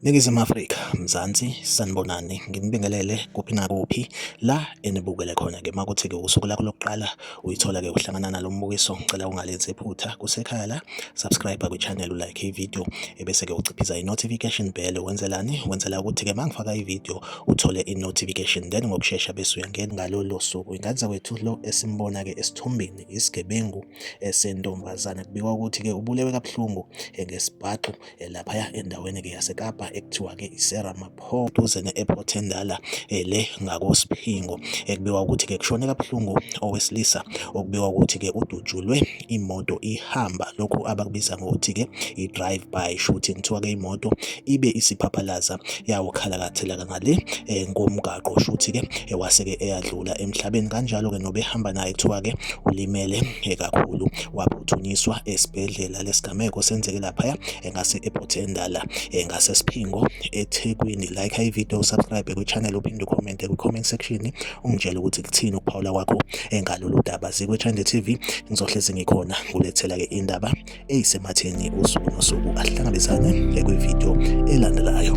Ningizimu Afrika, Mzansi, sanibonani, nginibingelele kuphi nakuphi la enibukele khona-ke makuthi-ke usuku lakho lokuqala uyithola ke uhlangana nalo mbukiso ngicela ungalenzi iphutha kusekhaya la subscribe kwichannel ulike ivideo ebese ke uciphiza i-notification bell wenzelani wenzela ukuthi ke mangifaka ivideo uthole i-notification then ngokushesha bese uyangena ngalolo suku ingane zakwethu lo esimbona ke esithombeni isigebengu esentombazane kubikwa ukuthi ke ubulewe kabuhlungu ngesibhaxu Eh, laphaya endaweni-ke yasekapa ekuthiwa-ke isera mapho duze ne-airport endala eh, le ngakosiphingo ekubikwa eh, ukuthi-ke kushone kabuhlungu owesilisa okubikwa ukuthi-ke udutshulwe imoto ihamba lokhu abakubiza ngokuthi-ke i-drive by shooting kuthiwa-ke imoto ibe isiphaphalaza yawukhalakathelaka ngale ngomgaqo shuthi-ke ewase-ke eyadlula emhlabeni kanjalo-ke nobehamba naye kuthiwa-ke ulimele kakhulu waphuthunyiswa esibhedlela nalesigameko senzeke laphaya engase ePort Endala engase siphingo eThekwini like i video subscribe kwi channel uphinde ucomment kwi comment section ungitshela ukuthi kuthini ukuphawula kwakho engalolu daba zikwe Chande TV ngizohlezi ngikhona kulethela ke indaba eyisematheni usuku nosuku ahlangabezane kwi video elandelayo